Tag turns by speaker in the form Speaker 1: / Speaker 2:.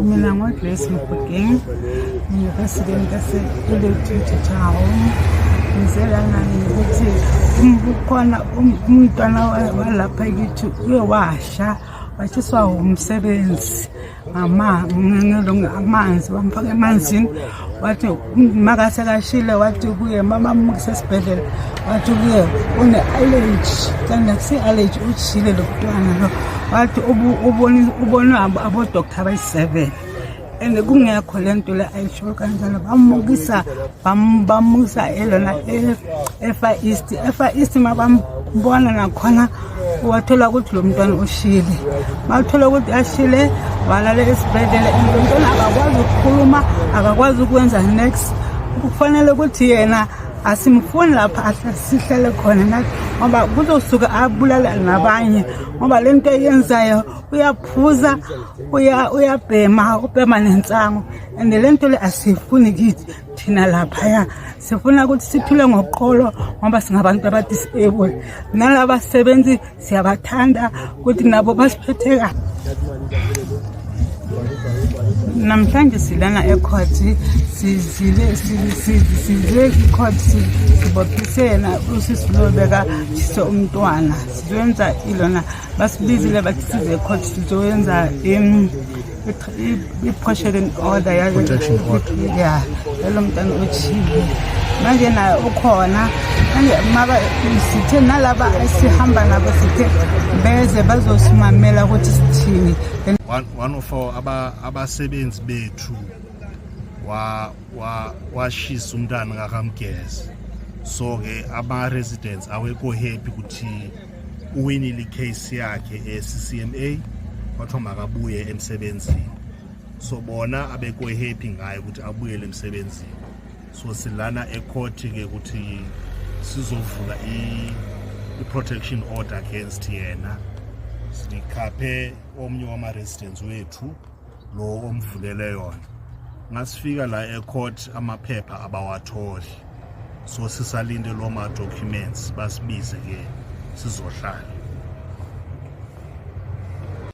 Speaker 1: Mina ngoGrace Mgudeng, ngiyipresident yase-Electricity Town. Ngizela nani ukuthi kukhona umntwana walapha kithi uye washa washiswa wumsebenzi ngelonge amanzi bamfake emanzini wathi makasekashile wathi kuye mama mukise esibhedlela wathi kuye une-allergy kanti akusi-allergy ujile lo mntwana lo wathi ubonwe abodoktar abayi-seven and kungekho le nto le ayisho kanjalo bamukisa bamukisa elona e-far east e-far east mabambona nakhona wathola ukuthi lo mntwana ushile bathola ukuthi ashile walala esibhedlela and lo mntwana akakwazi ukukhuluma akakwazi ukwenza next kufanele ukuthi yena asimfuni lapha sihlele khona nathi ngoba kuzosuke abulala nabanye ngoba le nto eyenzayo uyaphuza uyabhema ubhema nensango and le nto le asiyifuni kithi thina laphaya sifuna ukuthi sithule ngoqolo ngoba singabantu abadisable nalaba sebenzi siyabathanda ukuthi nabo basiphethe kahle namhlanje silana ecourt sizile sizile icourt sibophisena usisi lo bekatshise umntwana sizoyenza ilona basibizile bathi size ecourt sizoyenza i-protection order ya yalo mntana otshile manje naye ukhona sithe nalaba esihamba nabo sithe beze bazosimamela ukuthi sithini one of
Speaker 2: our abasebenzi bethu washisa umntana kakamgeza so-ke ama-residents awekho happy ukuthi uwinile icase yakhe e-ccma kwathiwa makabuye emsebenzini so bona abekwehappy ngayo ukuthi abuyele emsebenzini so silana ekhothi-ke ukuthi sizovula i-protection order against yena sikhaphe omunye wama-residents wethu lo omvulele yona ngasifika la ecourt amaphepha abawatholi so sisalinde lo ma-documents basibize ke sizohlala